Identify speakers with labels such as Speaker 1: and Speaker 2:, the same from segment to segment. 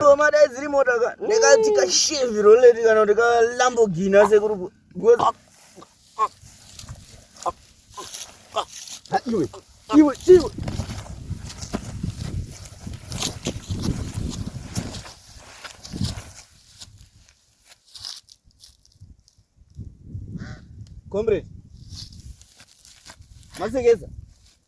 Speaker 1: Roma dai dziri mota ka ndikati kashevhi roleti kana kuti kalambogini asekuru iwe iwe iwe comrade masekeza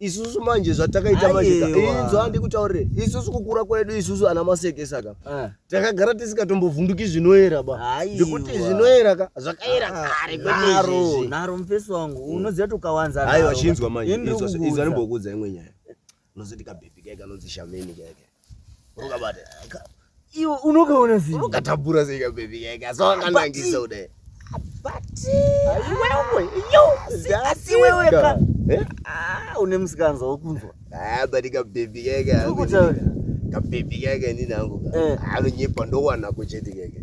Speaker 2: isusu manje zvatakaita manje inzwa ndikutaurire isusu kukura kwedu isusu ana maseke saka ah. takagara tisingatombovhunduki zvinoera ba ndikuti zvinoera ka zvakaera ah, kare kweizvezvi naro mufesi wangu
Speaker 1: mm. unoziva kuti ukawanza aiwa chinzwa manje
Speaker 2: izva ndimbokudza imwe nyaya unozoti kabhebhi kaika anonzi shameni kaika Ukabata.
Speaker 1: Iwe unokaona sei? Unokatabura sei ka baby
Speaker 2: yake? Asawanganangisa ude. Abati.
Speaker 1: Wewe, yo, singasi wewe ka. Eh? Ah, une musikanza wokunzwa. Ah, bati ka
Speaker 2: baby yake. Ukutaura. Ka baby yake ndinangu. Eh. Anonyepa ndowana kuchete yake.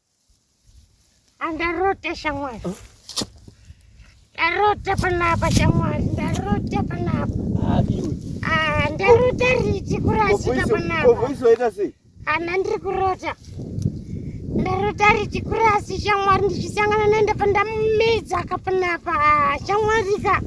Speaker 3: Andarota shamwari. Ndarota panapa shamwari, ndarota panapa. Ah,
Speaker 1: iwe. Ah, ndarota
Speaker 3: riti kurasika panapa. Ko voice waita sei?
Speaker 1: Ana ndiri kurota.
Speaker 3: Ndarota riti kurasi shamwari ndichisangana naenda pandamumedza ka panapa. Ah, shamwari ka.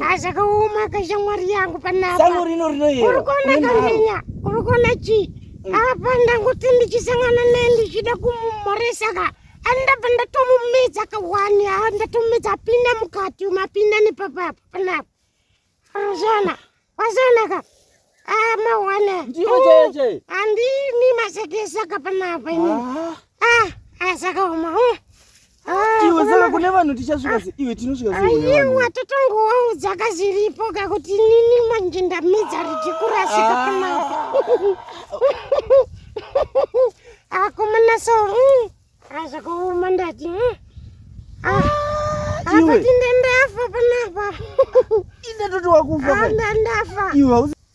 Speaker 3: Hazvakaoma ka shamwari yangu panapa. Sango rino rinoyera. Uri
Speaker 1: kuona kamenya,
Speaker 3: uri kuona chii? apa ndangoti ndichisangana naye ndichida kumumhoresa ka ani ndabva ndatomumedza kawani ha ndatomumedza apinda mukati umu apinda nepapapo panapa azana wazana ka amahwana
Speaker 1: andimi
Speaker 3: masekesa ka panapa ini ah asakaoma ah, ah, ah, Ah, iwe
Speaker 1: saka kune vanhu tichasvika se iwe tinosvika se aiwa totongowaudza
Speaker 3: kaziripo kakuti nini manje ndamidza richikurasika ah. pamaoko akomana ah, so azvakaoma mm, ndati mm. apati ndandafa panapa indatoti
Speaker 1: wakufa ndandafa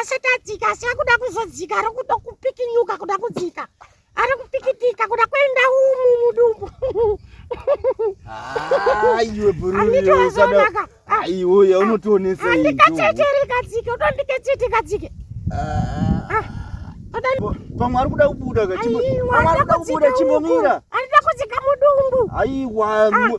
Speaker 3: asati adzika asi akuda kuzodzika ari kuda kupikinyuka kuda kudzika ari kupikitika kuda kuenda umu mudumbu
Speaker 1: aiwe buruanditoazonaka aiwe unotionesa andikachechere
Speaker 3: kadzike utondikechete kadzike
Speaker 1: pamwe ari kuda kubuda kachimbomira andida kudzika
Speaker 3: mudumbu aiwa ah.